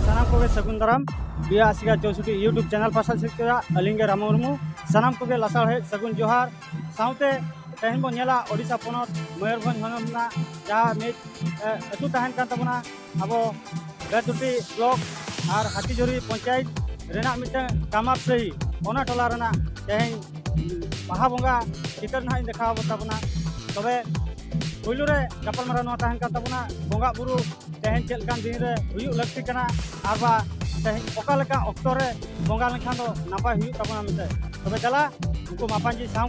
ᱥᱟᱱᱟᱢ ᱠᱚᱜᱮ ᱥᱟᱹᱜᱩᱱ ᱫᱟᱨᱟᱢ ᱵᱤᱭᱟ ᱟᱥᱤᱠᱟ ᱪᱳᱥᱩᱴᱤ ᱤᱭᱩᱴᱩᱵᱽ ᱪᱮᱱᱮᱞ ᱯᱟᱥᱟ ᱥᱮᱫ ᱠᱮᱫᱟ ᱟᱹᱞᱤᱧ ᱜᱮ ᱨᱟᱢ ᱢᱩᱨᱢᱩ ᱥᱟᱱᱟᱢ ᱠᱚᱜᱮ ᱞᱟᱥᱟᱲ ᱦᱮᱡ ᱥᱟᱹᱜᱩᱱ ᱡᱚᱦᱟᱨ ᱥᱟᱶᱛᱮ ᱛᱮᱦᱮᱧ ᱵᱚᱱ ᱧᱮᱞᱟ ᱳᱰᱤᱥᱟ ᱯᱚᱱᱚᱛ ᱢᱚᱭᱩᱨᱵᱷᱚᱸᱡᱽ ᱦᱚᱱᱚᱛ ᱨᱮᱱᱟᱜ ᱡᱟᱦᱟᱸ ᱢᱤᱫ ᱟᱹᱛᱩ ᱛᱟᱦᱮᱱ ᱠᱟᱱ ᱛᱟᱵᱚᱱᱟ ᱟᱵᱚ ᱵᱮᱛᱩᱴᱤ ᱵᱞᱚᱠ ᱟᱨ ᱦᱟᱹᱛᱤᱡᱩᱨᱤ ᱯᱚᱧᱪᱟᱭᱮᱛ ᱨᱮᱱᱟᱜ ᱢᱤᱫᱴᱟᱝ ᱠᱟᱢᱟᱯ ᱥᱟᱹᱦᱤ ᱚᱱᱟ ᱴᱚᱞᱟ ᱨᱮᱱᱟᱜ ᱛᱮᱦᱮᱧ ᱵᱟᱦᱟ ᱵᱚᱸᱜᱟ ᱪᱤᱛᱟᱹᱨ ᱱᱟᱦᱟᱜ ᱤᱧ ᱫᱮᱠᱷᱟᱣ ᱟᱵᱚᱱ ᱛᱟᱵᱚᱱᱟ ᱛᱚᱵᱮ ᱯᱩᱭᱞᱩ ᱨᱮ ᱜᱟᱯᱟᱞᱢᱟᱨᱟᱣ ᱱᱚᱣᱟ ᱛᱟᱦᱮᱱ ᱠᱟᱱ ᱛᱟᱵᱚᱱᱟ ᱵᱚᱸᱜᱟ ᱵᱩᱨᱩ ᱛᱮᱦᱮᱧ ᱪᱮᱫ ᱞᱮᱠᱟᱱ ᱫᱤᱱ ᱨᱮ ᱦᱩᱭᱩᱜ ᱞᱟᱹᱠᱛᱤ ᱠᱟᱱᱟ ᱟᱨ ᱵᱟ ᱛᱮᱦᱮᱧ ᱚᱠᱟ ᱞᱮᱠᱟ ᱚᱠᱛᱚ ᱨᱮ ᱵᱚᱸᱜᱟ ᱞᱮᱱᱠᱷᱟᱱ ᱫᱚ ᱱᱟᱯᱟᱭ ᱦᱩᱭᱩᱜ ᱛᱟᱵᱚᱱᱟ ᱢᱮᱱᱛᱮ ᱛᱚᱵᱮ ᱫᱮᱞᱟ ᱩᱱᱠᱩ ᱢᱟᱯᱟᱡᱤ ᱥᱟᱶ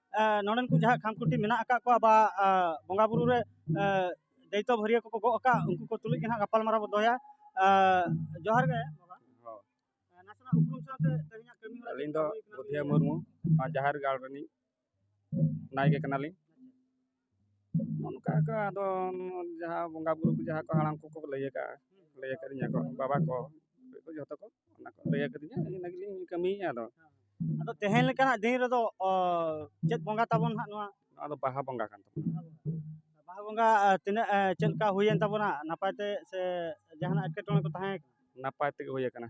ᱱᱚᱰᱮᱱ ᱠᱚ ᱡᱟᱦᱟᱸ ᱠᱷᱟᱢᱠᱷᱩᱱᱴᱤ ᱢᱮᱱᱟᱜ ᱟᱠᱟᱫ ᱠᱚᱣᱟ ᱵᱟ ᱵᱚᱸᱜᱟ ᱵᱩᱨᱩ ᱨᱮ ᱫᱟᱹᱭᱛᱚ ᱵᱷᱟᱹᱨᱭᱟᱹ ᱠᱚᱠᱚ ᱜᱚᱜ ᱟᱠᱟᱫ ᱩᱱᱠᱩ ᱠᱚ ᱛᱩᱞᱩᱡ ᱜᱮ ᱦᱟᱸᱜ ᱜᱟᱯᱟᱞ ᱢᱟᱨᱟᱣ ᱵᱚ ᱫᱚᱦᱚᱭᱟ ᱡᱚᱦᱟᱨ ᱜᱮ ᱱᱟᱥᱮᱱᱟᱜ ᱩᱯᱨᱩᱢ ᱥᱟᱶᱛᱮ ᱛᱮᱦᱮᱧᱟᱜ ᱠᱟᱹᱢᱤ ᱟᱹᱞᱤᱧ ᱫᱚ ᱵᱩᱫᱷᱤᱭᱟᱹ ᱢᱩᱨᱢᱩ ᱡᱟᱦᱮᱨ ᱜᱟᱲ ᱨᱤᱱᱤᱡ ᱱᱟᱭᱠᱮ ᱠᱟᱱᱟᱞᱤᱧ ᱚᱱᱠᱟ ᱜᱮ ᱟᱫᱚ ᱡᱟᱦᱟᱸ ᱵᱚᱸᱜᱟ ᱵᱩᱨᱩ ᱠᱚ ᱡᱟᱦᱟᱸ ᱠᱚ ᱦᱟᱲᱟᱢ ᱠᱚᱠᱚ ᱞᱟᱹᱭ ᱠᱟᱜᱼᱟ ᱞᱟᱹᱭ ᱠᱟᱹᱫᱤᱧᱟ ᱠᱚ ᱵᱟᱵᱟ ᱠᱚ ᱡᱚᱛᱚ ᱠᱚ ᱚᱱᱟ ᱠᱚ ᱞᱟᱹᱭ ᱠᱟᱹᱫᱤᱧᱟ ᱤᱱᱟᱹ ᱜᱮᱞᱤᱧ ᱠᱟᱹᱢᱤᱭᱮᱫᱼᱟ ᱟᱫᱚ ᱟᱫᱚ ᱛᱮᱦᱮᱧ ᱞᱮᱠᱟᱱᱟᱜ ᱫᱤᱱ ᱨᱮᱫᱚ ᱚ, ᱪᱮᱫ ᱵᱚᱸᱜᱟ ᱛᱟᱵᱚᱱ ᱦᱟᱸᱜ ᱱᱚᱣᱟ ᱱᱚᱣᱟ ᱫᱚ ᱵᱟᱦᱟ ᱵᱚᱸᱜᱟ ᱠᱟᱱ ᱛᱟᱵᱚᱱᱟ ᱵᱟᱦᱟ ᱵᱚᱸᱜᱟ ᱟ, ᱛᱤᱱᱟᱹᱜ ᱟ, ᱪᱮᱫ ᱞᱮᱠᱟ ᱦᱩᱭᱮᱱ ᱛᱟᱵᱚᱱᱟ ᱱᱟᱯᱟᱭ ᱛᱮ ᱥᱮ ᱡᱟᱦᱟᱱᱟᱜ ᱮᱴᱠᱮᱴᱚᱬᱮ ᱠᱚ ᱛᱟᱦᱮᱸ ᱱᱟᱯᱟᱭ ᱛᱮᱜᱮ ᱦᱩᱭ ᱠᱟᱱᱟ ᱠᱟᱱᱟ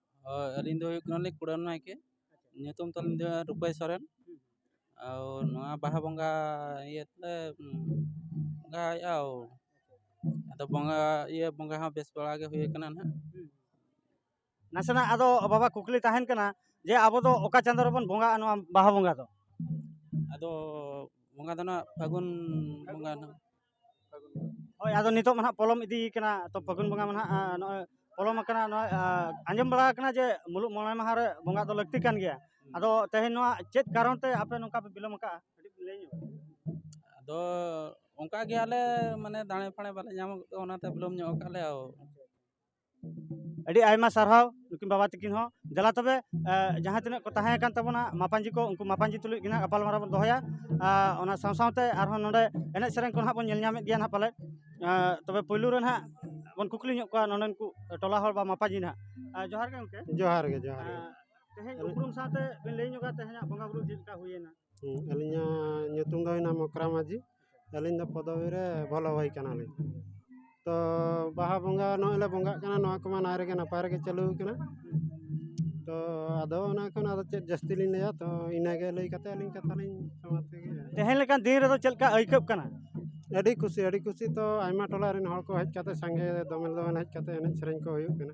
ᱦᱳᱭ ᱟᱹᱞᱤᱧ ᱫᱚ ᱦᱩᱭᱩᱜ ᱠᱟᱱᱟᱞᱤᱧ ᱠᱩᱲᱟᱹᱱ ᱱᱟᱭᱠᱮ ᱧᱩᱛᱩᱢ ᱛᱟᱹᱞᱤᱧ ᱫᱚ ᱨᱩᱯᱟᱹᱭ ᱥᱚᱨᱮᱱ ᱟᱨ ᱱᱚᱣᱟ ᱵᱟᱦᱟ ᱵᱚᱸᱜᱟ ᱤᱭᱟᱹ ᱛᱮᱞᱮ ᱵᱚᱸᱜᱟᱭᱮᱫᱼᱟ ᱟᱫᱚ ᱵᱚᱸᱜᱟ ᱤᱭᱟᱹ ᱵᱚᱸᱜᱟ ᱦᱚᱸ ᱵᱮᱥ ᱵᱟᱲᱟ ᱜᱮ ᱦᱩᱭ ᱠᱟᱱᱟ ᱦᱟᱸᱜ ᱱᱟᱥᱮᱱᱟᱜ ᱟᱫᱚ ᱵᱟᱵᱟ ᱠᱩᱠᱞᱤ ᱛᱟᱦᱮᱱ ᱠᱟᱱᱟ ᱡᱮ ᱟᱵᱚ ᱫᱚ ᱚᱠᱟ ᱪᱟᱸᱫᱳ ᱨᱮᱵᱚᱱ ᱵᱚᱸᱜᱟᱜᱼᱟ ᱱᱚᱣᱟ ᱵᱟᱦᱟ ᱵᱚᱸᱜᱟ ᱫᱚ ᱟᱫᱚ ᱵᱚᱸᱜᱟ ᱫᱚ ᱦᱟᱸᱜ ᱯᱷᱟᱹᱜᱩᱱ ᱵᱚᱸᱜᱟ ᱦᱟᱸᱜ ᱦᱳᱭ ᱟᱫᱚ ᱱᱤᱛᱚᱜ ᱢᱟ ᱦᱟᱸᱜ ᱯᱚᱞᱚᱢ ᱤᱫᱤ ᱠᱟᱱᱟ ᱛᱚ ᱯᱷᱟᱹᱜᱩᱱ ᱵᱚᱸᱜᱟ ᱢᱟ ᱦᱟᱸᱜ ᱱᱚᱜᱼᱚᱭ ᱯᱚᱞᱚᱢ ᱟᱠᱟᱱᱟ ᱱᱚᱜᱼᱚᱭ ᱟᱸᱡᱚᱢ ᱵᱟᱲᱟ ᱟᱠᱟᱱᱟ ᱡᱮ ᱢᱩᱞᱩᱜ ᱢᱚᱬᱮ ᱢᱟᱦᱟ ᱨᱮ ᱵᱚᱸᱜᱟ ᱫᱚ ᱞᱟᱹᱠᱛᱤ ᱠᱟᱱ ᱜᱮᱭᱟ ᱟᱫᱚ ᱛᱮᱦᱮᱧ ᱱᱚᱣᱟ ᱪᱮᱫ ᱠᱟᱨᱚᱱ ᱛᱮ ᱟᱯᱮ ᱱᱚᱝᱠᱟ ᱯᱮ ᱵᱤᱞᱚᱢ ᱟᱠᱟᱜᱼᱟ ᱠᱟᱹᱴᱤᱡ ᱞᱟᱹᱭ ᱧᱚᱜ ᱢᱮ ᱟᱫᱚ ᱚᱱᱠᱟ ᱜᱮ ᱟᱞᱮ ᱢᱟᱱᱮ ᱫᱟᱲᱮ ᱯᱷᱟᱲᱮ ᱵᱟᱞᱮ ᱧᱟᱢ ᱠᱟᱜ ᱚᱱᱟᱛᱮ ᱵᱤᱞᱚᱢ ᱧᱚᱜ ᱠᱟᱜᱼᱟ ᱞᱮ ᱟᱹᱰᱤ ᱟᱭᱢᱟ ᱥᱟᱨᱦᱟᱣ ᱱᱩᱠᱤᱱ ᱵᱟᱵᱟ ᱛᱟᱹᱠᱤᱱ ᱦᱚᱸ ᱫᱮᱞᱟ ᱛᱚᱵᱮ ᱡᱟᱦᱟᱸ ᱛᱤᱱᱟᱹᱜ ᱠᱚ ᱛᱟᱦᱮᱸ ᱠᱟᱱ ᱛᱟᱵᱚᱱᱟ ᱢᱟᱯᱟᱧᱡᱤ ᱠᱚ ᱩᱱᱠᱩ ᱢᱟᱯᱟᱧᱡᱤ ᱛᱩᱞᱩᱡ ᱜᱮ ᱱᱟᱦᱟᱜ ᱜᱟᱯᱟᱞᱢᱟᱨᱟᱣ ᱵᱚᱱ ᱫᱚᱦᱚᱭᱟ ᱚᱱᱟ ᱥᱟᱶ ᱥᱟᱶᱛᱮ ᱟᱨᱦᱚᱸ ᱱᱚᱰᱮ ᱮᱱᱮᱡ ᱥᱮᱨᱮᱧ ᱠᱚ ᱱᱟᱦᱟᱜ ᱵᱚᱱ ᱧᱮᱞ ᱧᱟᱢᱮᱫ ᱜᱮᱭᱟ ᱱᱟᱦᱟᱜ ᱯᱟᱞᱮᱫ ᱛᱚᱵᱮ ᱯᱳᱭᱞᱳ ᱨᱮ ᱱᱟᱦᱟᱜ ᱵᱚᱱ ᱠᱩᱠᱞᱤ ᱧᱚᱜ ᱠᱚᱣᱟ ᱱᱚᱰᱮᱱ ᱠᱚ ᱴᱚᱞᱟ ᱦᱚᱲ ᱵᱟ ᱢᱟᱯᱟᱧᱡᱤ ᱱᱟᱦᱟᱜ ᱡᱚᱦᱟᱨ ᱜᱮ ᱜᱚᱢᱠᱮ ᱡᱚᱦᱟᱨ ᱜᱮ ᱡᱚᱦᱟᱨ ᱜᱮ ᱛᱮᱦᱮᱧ ᱩᱯᱨᱩᱢ ᱥᱟᱶᱛᱮ ᱵᱤᱱ ᱞᱟᱹᱭ ᱧᱚᱜᱟ ᱛᱮᱦᱮᱧᱟᱜ ᱵᱚᱸᱜᱟ ᱵᱩᱨᱩ ᱪᱮᱫ ᱞᱮᱠᱟ ᱦᱩᱭᱮᱱᱟ ᱟᱹᱞᱤᱧᱟᱜ ᱧᱩᱛᱩᱢ ᱫᱚ ᱦᱩᱭᱱᱟ ᱢᱚᱠᱨᱟ ᱢᱟᱹᱡᱷᱤ ᱟᱹᱞᱤᱧ ᱫᱚ ᱯᱚᱫᱚᱵᱤ ᱨᱮ ᱵᱷᱚᱞᱚ ᱵᱷᱟᱹᱭ ᱠᱟᱱᱟᱞᱤᱧ ᱛᱚ ᱵᱟᱦᱟ ᱵᱚᱸᱜᱟ ᱱᱚᱜᱼᱚᱸᱭ ᱞᱮ ᱵᱚᱸᱜᱟᱜ ᱠᱟᱱᱟ ᱱᱚᱣᱟ ᱠᱚᱢᱟ ᱱᱟᱭ ᱨᱮᱜᱮ ᱱᱟᱯᱟᱭ ᱨᱮᱜᱮ ᱪᱟᱹᱞᱩ ᱠᱟᱱᱟ ᱛᱚ ᱟᱫᱚ ᱚᱱᱟ ᱠᱷᱚᱱ ᱟᱫᱚ ᱪᱮᱫ ᱡᱟᱹᱥᱛᱤ ᱞᱤᱧ ᱞᱟᱹᱭᱟ ᱛᱚ ᱤᱱᱟᱹ ᱜᱮ ᱞᱟᱹᱭ ᱠᱟᱛᱮ ᱟᱹᱞᱤᱧ ᱠᱟᱛᱷᱟ ᱞᱤᱧ ᱥᱚᱢᱟᱯᱛ ᱠᱮᱫᱟ ᱛᱮᱦᱮᱧ ᱞᱮᱠᱟᱱ ᱫᱤᱱ ᱨᱮᱫᱚ ᱪᱮᱫ ᱞᱮᱠᱟ ᱟᱹᱭᱠᱟᱹᱜ ᱠᱟᱱᱟ ᱟᱹᱰᱤ ᱠᱩᱥᱤ ᱟᱹᱰᱤ ᱠᱩᱥᱤ ᱛᱚ ᱟᱭᱢᱟ ᱴᱚᱞᱟ ᱨᱮᱱ ᱦᱚᱲ ᱠᱚ ᱦᱮᱡ ᱠᱟᱛᱮ ᱥᱟᱸᱜᱮ ᱫᱚᱢᱮᱞ ᱫᱚᱢᱮᱞ ᱦᱮᱡ ᱠᱟᱛᱮ ᱮᱱᱮᱡ ᱥᱮᱨᱮᱧ ᱠᱚ ᱦᱩᱭᱩᱜ ᱠᱟᱱᱟ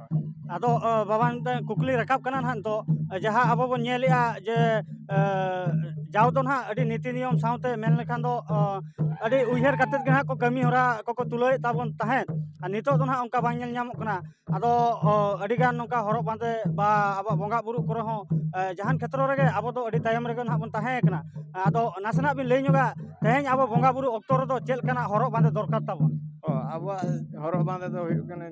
ᱟᱫᱚ ᱵᱟᱵᱟ ᱢᱤᱫᱴᱟᱝ ᱠᱩᱠᱞᱤ ᱨᱟᱠᱟᱵ ᱠᱟᱱᱟ ᱦᱟᱸᱜ ᱱᱤᱛᱚᱜ ᱡᱟᱦᱟᱸ ᱟᱵᱚ ᱵᱚᱱ ᱧᱮᱞᱮᱜᱼᱟ ᱡᱮ ᱡᱟᱣ ᱫᱚ ᱦᱟᱸᱜ ᱟᱹᱰᱤ ᱱᱤᱛᱤ ᱱᱤᱭᱚᱢ ᱥᱟᱶᱛᱮ ᱢᱮᱱ ᱞᱮᱠᱷᱟᱱ ᱫᱚ ᱟᱹᱰᱤ ᱩᱭᱦᱟᱹᱨ ᱠᱟᱛᱮ ᱜᱮ ᱦᱟᱸᱜ ᱠᱚ ᱠᱟᱹᱢᱤᱦᱚᱨᱟ ᱠᱚᱠᱚ ᱛᱩᱞᱟᱹᱣᱮᱜ ᱛᱟᱵᱚᱱ ᱛᱟᱦᱮᱸᱜ ᱟᱨ ᱱᱤᱛᱚᱜ ᱫᱚ ᱦᱟᱸᱜ ᱚᱱᱠᱟ ᱵᱟᱝ ᱧᱮᱞ ᱧᱟᱢᱚᱜ ᱠᱟᱱᱟ ᱟᱫᱚ ᱟᱹᱰᱤᱜᱟᱱ ᱱᱚᱝᱠᱟ ᱦᱚᱨᱚᱜ ᱵᱟᱸᱫᱮ ᱵᱟ ᱟᱵᱚᱣᱟᱜ ᱵᱚᱸᱜᱟ ᱵᱳᱨᱳ ᱠᱚᱨᱮ ᱦᱚᱸ ᱡᱟᱦᱟᱱ ᱠᱷᱮᱛᱨᱚ ᱨᱮᱜᱮ ᱟᱵᱚ ᱫᱚ ᱟᱹᱰᱤ ᱛᱟᱭᱚᱢ ᱨᱮᱜᱮ ᱦᱟᱸᱜ ᱵᱚᱱ ᱛᱟᱦᱮᱸ ᱠᱟᱱᱟ ᱟᱫᱚ ᱱᱟᱥᱮᱱᱟᱜ ᱵᱤᱱ ᱞᱟᱹᱭ ᱧᱚᱜᱟ ᱛᱮᱦᱮᱧ ᱟᱵᱚ ᱵᱚᱸᱜᱟ ᱵᱳᱨᱳ ᱚᱠᱛᱚ ᱨᱮᱫᱚ ᱪᱮᱫ ᱞᱮᱠᱟᱱᱟᱜ ᱦᱚᱨᱚᱜ ᱵᱟᱸᱫᱮ ᱫᱚᱨᱠᱟᱨ ᱛᱟᱵᱚᱱ ᱟᱵᱚᱣᱟᱜ ᱦᱚᱨᱚᱜ ᱵᱟᱸᱫᱮ ᱫᱚ ᱦᱩᱭᱩᱜ ᱠᱟᱱᱟ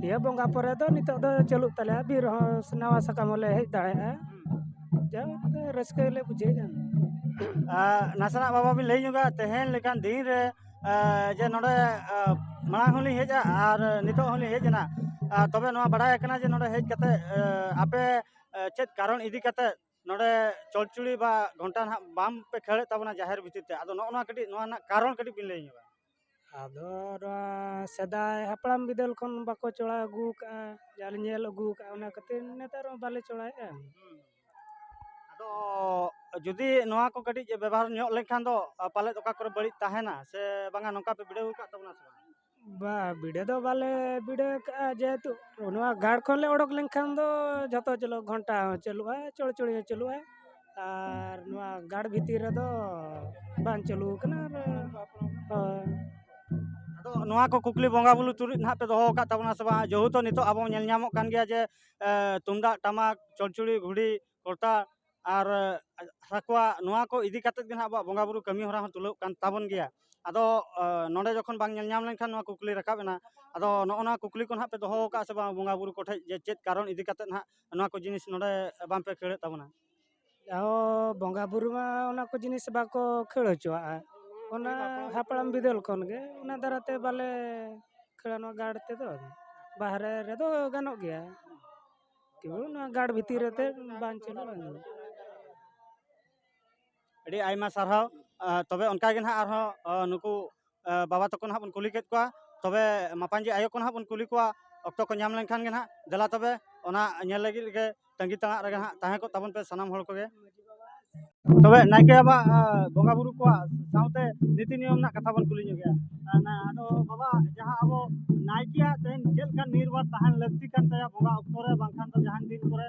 ᱫᱤᱭᱮ ᱵᱚᱸᱜᱟ ᱯᱚᱨᱮ ᱫᱚ ᱱᱤᱛᱚᱜ ᱫᱚ ᱪᱟᱹᱞᱩᱜ ᱛᱟᱞᱮᱭᱟ ᱵᱤᱨ ᱦᱚᱸ ᱱᱟᱣᱟ ᱥᱟᱠᱟᱢ ᱦᱚᱸᱞᱮ ᱦᱮᱡ ᱫᱟᱲᱮᱭᱟᱜᱼᱟ ᱡᱟᱣ ᱜᱮ ᱨᱟᱹᱥᱠᱟᱹ ᱞᱮ ᱵᱩᱡᱷᱟᱹᱣᱮᱫᱼᱟ ᱱᱟᱥᱮᱱᱟᱜ ᱵᱟᱵᱟ ᱵᱤᱱ ᱞᱟᱹᱭ ᱧᱚᱜᱟ ᱛᱮᱦᱮᱧ ᱞᱮᱠᱟᱱ ᱫᱤᱱ ᱨᱮ ᱡᱮ ᱱᱚᱰᱮ ᱢᱟᱲᱟᱝ ᱦᱚᱸᱞᱤᱧ ᱦᱮᱡᱼᱟ ᱟᱨ ᱱᱤᱛᱚᱜ ᱦᱚᱸᱞᱤᱧ ᱦᱮᱡ ᱮᱱᱟ ᱛᱚᱵᱮ ᱱᱚᱣᱟ ᱵᱟᱲᱟᱭ ᱠᱟᱱᱟ ᱡᱮ ᱱᱚᱰᱮ ᱦᱮᱡ ᱠᱟᱛᱮ ᱟᱯᱮ ᱪᱮᱫ ᱠᱟᱨᱚᱱ ᱤᱫᱤ ᱠᱟᱛᱮ ᱱᱚᱰᱮ ᱪᱚᱲᱪᱚᱲᱤ ᱵᱟ ᱜᱷᱚᱱᱴᱟ ᱱᱟᱦᱟᱜ ᱵᱟᱝ ᱯᱮ ᱠᱷᱟᱹᱲᱮᱫ ᱛᱟᱵᱚᱱᱟ ᱡᱟᱦᱮᱨ ᱵᱷᱤᱛᱤᱨ ᱛᱮ ᱟᱫᱚ ᱱᱚᱜᱼᱚ ᱱᱚᱣᱟ ᱠᱟᱹᱴᱤᱡ ᱱᱚᱣᱟ ᱨᱮᱱᱟᱜ ᱠᱟᱨᱚᱱ ᱠᱟᱹᱴᱤᱡ ᱵᱤᱱ ᱞᱟᱹᱭ ᱧᱚᱜᱟ ᱟᱫᱚ ᱱᱚᱣᱟ ᱥᱮᱫᱟᱭ ᱦᱟᱯᱲᱟᱢ ᱵᱤᱫᱟᱹᱞ ᱠᱷᱚᱱ ᱵᱟᱠᱚ ᱪᱚᱲᱦᱟᱣ ᱟᱹᱜᱩ ᱠᱟᱜᱼᱟ ᱡᱟ ᱞᱮ ᱧᱮᱞ ᱟᱹᱜᱩ ᱠᱟᱜᱼᱟ ᱚᱱᱟ ᱠᱷᱟᱹᱛᱤᱨ ᱱᱮᱛᱟᱨ ᱦᱚᱸ ᱵᱟᱞᱮ ᱪᱚᱲᱦᱟᱣᱮᱜᱼᱟ ᱟᱫᱚ ᱡᱩᱫᱤ ᱱᱚᱣᱟ ᱠᱚ ᱠᱟᱹᱴᱤᱡ ᱵᱮᱵᱚᱦᱟᱨ ᱧᱚᱜ ᱞᱮᱱᱠᱷᱟᱱ ᱫᱚ ᱯᱟᱞᱮᱫ ᱚᱠᱟ ᱠᱚᱨᱮ ᱵᱟᱹᱲᱤᱡ ᱛᱟᱦᱮᱱᱟ ᱥᱮ ᱵᱟᱝᱟ ᱱᱚᱝᱠᱟ ᱯᱮ ᱵᱤᱰᱟᱹᱣ ᱟᱠᱟᱫ ᱛᱟᱵᱚᱱᱟ ᱥᱮ ᱵᱟᱝ ᱵᱟ ᱵᱤᱰᱟᱹᱣ ᱫᱚ ᱵᱟᱞᱮ ᱵᱤᱰᱟᱹᱣ ᱠᱟᱜᱼᱟ ᱡᱮᱦᱮᱛᱩ ᱱᱚᱣᱟ ᱜᱟᱲ ᱠᱷᱚᱱ ᱞᱮ ᱚᱰᱚᱠ ᱞᱮᱱᱠᱷᱟᱱ ᱫᱚ ᱡᱷᱚᱛᱚ ᱪᱟᱹᱞᱩᱜᱼᱟ ᱜᱷᱚᱱᱴᱟ ᱦᱚᱸ ᱪᱟᱹᱞᱩᱜᱼᱟ ᱪᱚᱲᱪᱚᱲᱤ ᱦᱚᱸ ᱪᱟᱹᱞᱩᱜᱼᱟ ᱟᱨ ᱱᱚᱣᱟ ᱜᱟᱲ ᱵᱷᱤᱛᱤᱨ ᱨᱮᱫᱚ ᱵᱟᱝ ᱪᱟᱹᱞᱩ ᱟᱠᱟᱱᱟ ᱟᱨ ᱦᱳᱭ ᱟᱫᱚ ᱱᱚᱣᱟ ᱠᱚ ᱠᱩᱠᱞᱤ ᱵᱚᱸᱜᱟ ᱵᱩᱨᱩ ᱛᱩᱞᱩᱡ ᱱᱟᱦᱟᱜ ᱯᱮ ᱫᱚᱦᱚ ᱟᱠᱟᱫ ᱛᱟᱵᱚᱱᱟ ᱥᱮ ᱵᱟᱝ ᱡᱮᱦᱮᱛᱩ ᱱᱤᱛᱚᱜ ᱟᱵᱚ ᱧᱮᱞ ᱧᱟᱢᱚᱜ ᱠᱟᱱ ᱜᱮᱭᱟ ᱡᱮ ᱮᱸ, ᱛᱩᱢᱫᱟᱜ ᱴᱟᱢᱟᱠ ᱪᱚᱲᱪᱩᱲᱤ ᱜᱷᱩᱲᱤ ᱠᱚᱨᱛᱟ ᱟᱨ ᱮᱸ, ᱥᱟᱠᱣᱟ ᱱᱚᱣᱟ ᱠᱚ ᱤᱫᱤ ᱠᱟᱛᱮᱫ ᱜᱮ ᱱᱟᱦᱟᱜ ᱟᱵᱚᱣᱟᱜ ᱵᱚᱸᱜᱟ ᱵᱩᱨᱩ ᱠᱟᱹᱢᱤ ᱦᱚᱨᱟ ᱦᱚᱸ ᱛᱩᱞᱟᱹᱣ ᱠᱟᱱ ᱛᱟᱵᱚᱱ ᱜᱮᱭᱟ ᱟᱫᱚ ᱮᱸ, ᱱᱚᱰᱮ ᱡᱚᱠᱷᱚᱱ ᱵᱟᱝ ᱧᱮᱞ ᱧᱟᱢ ᱞᱮᱱᱠᱷᱟᱱ ᱱᱚᱣᱟ ᱠᱩᱠᱞᱤ ᱨᱟᱠᱟᱵ ᱮᱱᱟ ᱟᱫᱚ ᱱᱚᱜᱼᱚ ᱱᱚᱣᱟ ᱠᱩᱠᱞᱤ ᱠᱚ ᱱᱟᱦᱟᱜ ᱯᱮ ᱫᱚᱦᱚ ᱟᱠᱟᱫ ᱥᱮ ᱵᱟᱝ ᱵᱚᱸᱜᱟ ᱵᱩᱨᱩ ᱠᱚᱴᱷᱮᱡ ᱡᱮ ᱪᱮᱫ ᱠᱟᱨᱚᱱ ᱤᱫᱤ ᱠᱟᱛᱮᱫ ᱱᱟᱦᱟᱜ ᱱᱚᱣᱟ ᱠᱚ ᱡᱤᱱᱤᱥ ᱱᱚᱰᱮ ᱵᱟᱝ ᱯᱮ ᱠᱷᱟᱹᱲᱮᱫ ᱛᱟᱵᱚᱱᱟ ᱚ ᱵᱚᱸᱜᱟ ᱵᱩᱨᱩ ᱢᱟ ᱚᱱᱟ ᱠᱚ ᱡᱤᱱᱤᱥ ᱵᱟᱠᱚ ᱠᱷᱟᱹᱲ ᱦᱚᱪᱚᱣᱟᱜᱼᱟ ᱚᱱᱟ ᱦᱟᱯᱲᱟᱢ ᱵᱤᱫᱟᱹᱞ ᱠᱷᱚᱱ ᱜᱮ ᱚᱱᱟ ᱫᱟᱨᱟᱭ ᱛᱮ ᱵᱟᱞᱮ ᱠᱷᱟᱹᱲᱟ ᱱᱚᱣᱟ ᱜᱟᱲ ᱛᱮᱫᱚ ᱵᱟᱦᱨᱮ ᱨᱮᱫᱚ ᱜᱟᱱᱚᱜ ᱜᱮᱭᱟ ᱛᱚᱵᱩ ᱱᱚᱣᱟ ᱜᱟᱲ ᱵᱷᱤᱛᱤᱨ ᱨᱮᱛᱮ ᱵᱟᱝ ᱪᱟᱹᱞᱩᱜᱼᱟ ᱟᱹᱰᱤ ᱟᱭᱢᱟ ᱥᱟᱨᱦᱟᱣ ᱛᱚᱵᱮ ᱚᱱᱠᱟ ᱜᱮ ᱱᱟᱦᱟᱜ ᱟᱨᱦᱚᱸ ᱱᱩᱠᱩ ᱵᱟᱵᱟ ᱛᱟᱠᱚ ᱱᱟᱦᱟᱜ ᱵᱚᱱ ᱠᱩᱞᱤ ᱠᱮᱫ ᱠᱚᱣᱟ ᱛᱚᱵᱮ ᱢᱟᱯᱟᱝᱜᱤ ᱟᱭᱳ ᱠᱚ ᱱᱟᱦᱟᱜ ᱵᱚᱱ ᱠᱩᱞᱤ ᱠᱚᱣᱟ ᱚᱠᱛᱚ ᱠᱚ ᱧᱟᱢ ᱞᱮᱱᱠᱷᱟᱱ ᱜᱮ ᱱᱟᱦᱟᱜ ᱫᱮᱞᱟ ᱛᱚᱵᱮ ᱚᱱᱟ ᱧᱮᱞ ᱞᱟᱹᱜᱤᱫ ᱜᱮ ᱛᱟᱺᱜᱤ ᱛᱟᱲᱟᱜ ᱨᱮᱜᱮ ᱱᱟᱦᱟᱜ ᱛᱟᱦᱮᱸ ᱠᱚᱜ ᱛᱟᱵᱚᱱ ᱯᱮ ᱥᱟᱱᱟᱢ ᱦᱚᱲ ᱠᱚᱜᱮ ᱛᱚᱵᱮ ᱱᱟᱭᱠᱮ ᱵᱟᱵᱟ ᱵᱚᱸᱜᱟ ᱵᱩᱨᱩ ᱠᱚᱣᱟᱜ ᱥᱟᱶᱛᱮ ᱱᱤᱛᱤ ᱱᱤᱭᱚᱢ ᱨᱮᱱᱟᱜ ᱠᱟᱛᱷᱟ ᱵᱚᱱ ᱠᱩᱞᱤ ᱧᱚᱜᱮᱜᱼᱟ ᱟᱫᱚ ᱵᱟᱵᱟ ᱡᱟᱦᱟᱸ ᱟᱵᱚ ᱱᱟᱭᱠᱮᱭᱟᱜ ᱛᱮᱦᱮᱧ ᱪᱮᱫ ᱞᱮᱠᱟ ᱱᱤᱨᱵᱟᱨ ᱛᱟᱦᱮᱱ ᱞᱟᱹᱠᱛᱤ ᱠᱟᱱ ᱛᱟᱭᱟ ᱵᱚᱸᱜᱟ ᱚᱠᱛᱚ ᱨᱮ ᱵᱟᱝᱠᱷᱟᱱ ᱫᱚ ᱡᱟᱦᱟᱱ ᱫᱤᱱ ᱠᱚᱨᱮ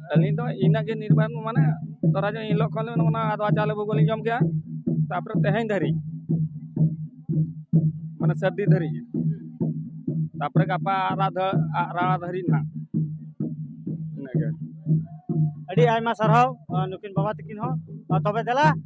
ᱟᱹᱞᱤᱧ ᱫᱚ ᱤᱱᱟᱹᱜ ᱜᱮ ᱱᱤᱨᱵᱟᱱ ᱢᱟᱱᱮ ᱫᱷᱚᱨᱟ ᱡᱮ ᱮᱱ ᱦᱤᱞᱳᱜ ᱠᱷᱚᱱ ᱚᱱᱟ ᱟᱫᱽᱣᱟ ᱪᱟᱣᱞᱮ ᱵᱷᱳᱜᱽ ᱞᱤᱧ ᱡᱚᱢ ᱠᱮᱜᱼᱟ ᱛᱟᱨᱯᱚᱨᱮ ᱛᱮᱦᱮᱧ ᱫᱷᱟᱹᱨᱤᱡ ᱢᱟᱱᱮ ᱥᱟᱹᱨᱫᱤ ᱫᱷᱟᱹᱨᱤᱡ ᱛᱟᱨᱯᱚᱨᱮ ᱜᱟᱯᱟ ᱟᱨᱟᱜ ᱟᱨᱟᱜ ᱫᱷᱟᱹᱨᱤᱡ ᱱᱟᱦᱟᱜ ᱤᱱᱟᱹᱜᱮ ᱟᱹᱰᱤ ᱟᱭᱢᱟ ᱥᱟᱨᱦᱟᱣ ᱱᱩᱠᱤᱱ ᱵᱟᱵᱟ ᱛᱟᱹᱠᱤᱱ ᱦᱚᱸ ᱛᱚᱵᱮ ᱫᱮᱞᱟ